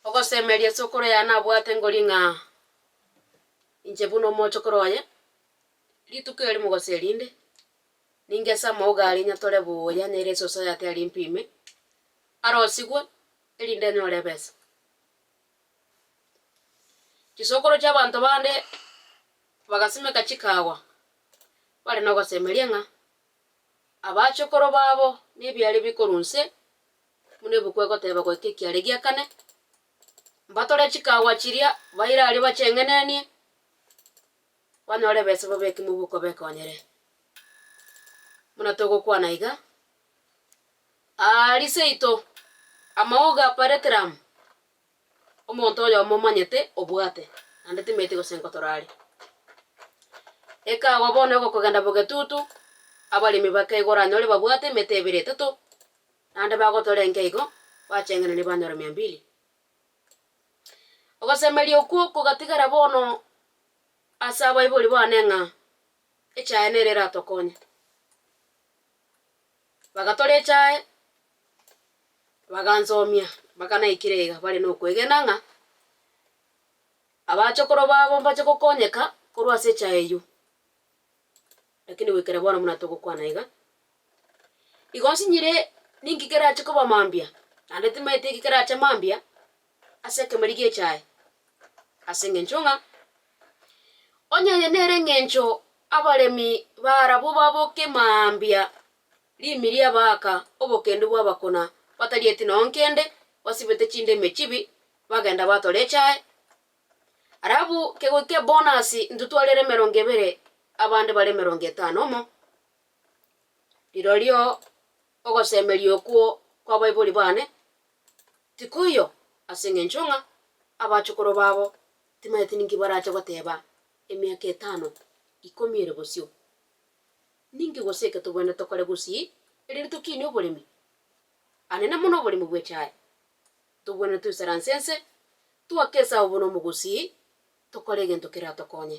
Ogosemeria sokoro yaye nabwate ngori ng'a inche buna omochokoro oye, rituko eri mogoso erinde, ninge ase amauga aria nyatore buya nere esoso yatiari mpime, arosigwe erinde nyore ebesa. Chisokoro chi'abanto bande bagasimeka chikaagwa, bare nogosemeria ng'a abachokoro babo nebiaare bi korwa inse buna ebuku egoteba goika ekiaare gia kane, mbatore chikaagwa chiria baire aria bacheng'enenie, banyore ebesebo b'ekimo bikobekoonyere. Buna togokwana iga, Aria seito, amaogo a Pareteramu, omonto oyomo omanyete obwate, naende timanyeti gose nkotora are. Ekagwa bono egokogenda bogetutu, abaremi bakaigora anyore babwate emete ebere etato, naende bagotora enke igo, bacheng'erania banyora mia mbili. Ogosemeria okwo kogatigara bono ase abaibori bane ng'a echaye nere eratokonye. Bagatora echae, bagansomia mpaka naikire iga bare nokwegena ng'a abachokoro babo mbache gokonyeka korwa ase echae eywo. Lakini goikera bono buna togokwana iga, igo nsinyire ninki kerache koba mambia, naende timaeti eki kerache mambia. ase ekemori gi'echae, ase engencho ng'a onye aye nere engencho abaremi b'Aarabu baboke mambia rimi ri'abaaka obokendu bw'abakuna batarieti noo nkende, basibete chindemi chibi, bagenda batora echae, arabu kegoika ebonasi ntotware ere emerongo ebere, abande bare emerongo etano omo. Rirorio ogosemeria okwo kw'abaibori baane. Tikoiyo, ase engencho ng'a abachokoro babo timaeti ninki barache goteba emiaka etano, ikomi ere bosio. Ninki gose eke tobwenerete tokore gusii erinde tokinie oboremi, anene mono oboremi bwe chae? Tobwenerete toisaranse ense, toake esao bono omogusii, tokore egento keratokonye.